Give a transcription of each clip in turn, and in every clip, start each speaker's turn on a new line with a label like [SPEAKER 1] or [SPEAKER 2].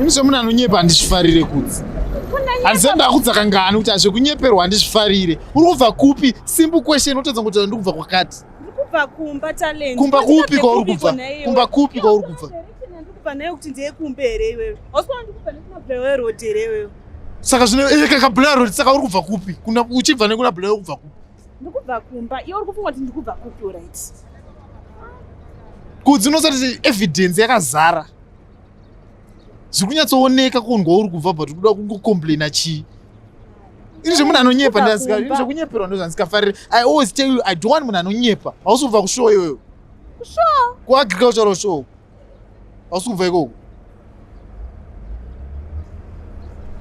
[SPEAKER 1] Ini semunhu anonyepa handizvifarire kudzi handisati ndakudza kangani kuti hazvekunyeperwa handizvifarire uri kubva kupi simple question otadza kuti ndiri kubva kwakati kumba
[SPEAKER 2] talent kumba kupi kwauri kubva
[SPEAKER 1] kumba kupi kwauri kubva ndikupa nayo kuti
[SPEAKER 2] ndiye kumbe here iwewe ausikuona ndikupa nekuna blawe road here iwewe saka zvino eh,
[SPEAKER 1] kaka blawe road saka uri kubva kupi uchibva nekuna blawe kubva kupi
[SPEAKER 2] ndikubva kumba iwe uri
[SPEAKER 1] kufunga kuti ndikubva kupi right kudzi unosati evidence yakazara zviri kunyatsooneka kundwa uri kubva but kuda kungocomplaina chii ini zvemunhu anonyepa ndazikaini zvekunyeperwa ndozvandisikafariri i always tell you i don't want munhu anonyepa hausi kubva kushow iyoyo
[SPEAKER 2] kuagricultural
[SPEAKER 1] show hausi kubva ikoko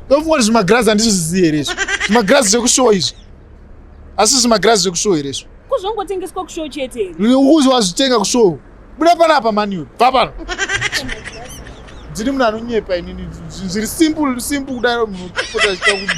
[SPEAKER 1] ndofunga kuti zvimagirazi handisi zvizivi here izvo zvimagirazi zvekushowa izvi asi zvimagirazi zvekushowa here izvo kuzvongotengeswa kushow
[SPEAKER 2] chete here ukuzi wazvitenga
[SPEAKER 1] kushow buda panapa maniwe bva pano ndiri munhu anonyepa inini zviri simple simple kudaro munhu kupota achita kuti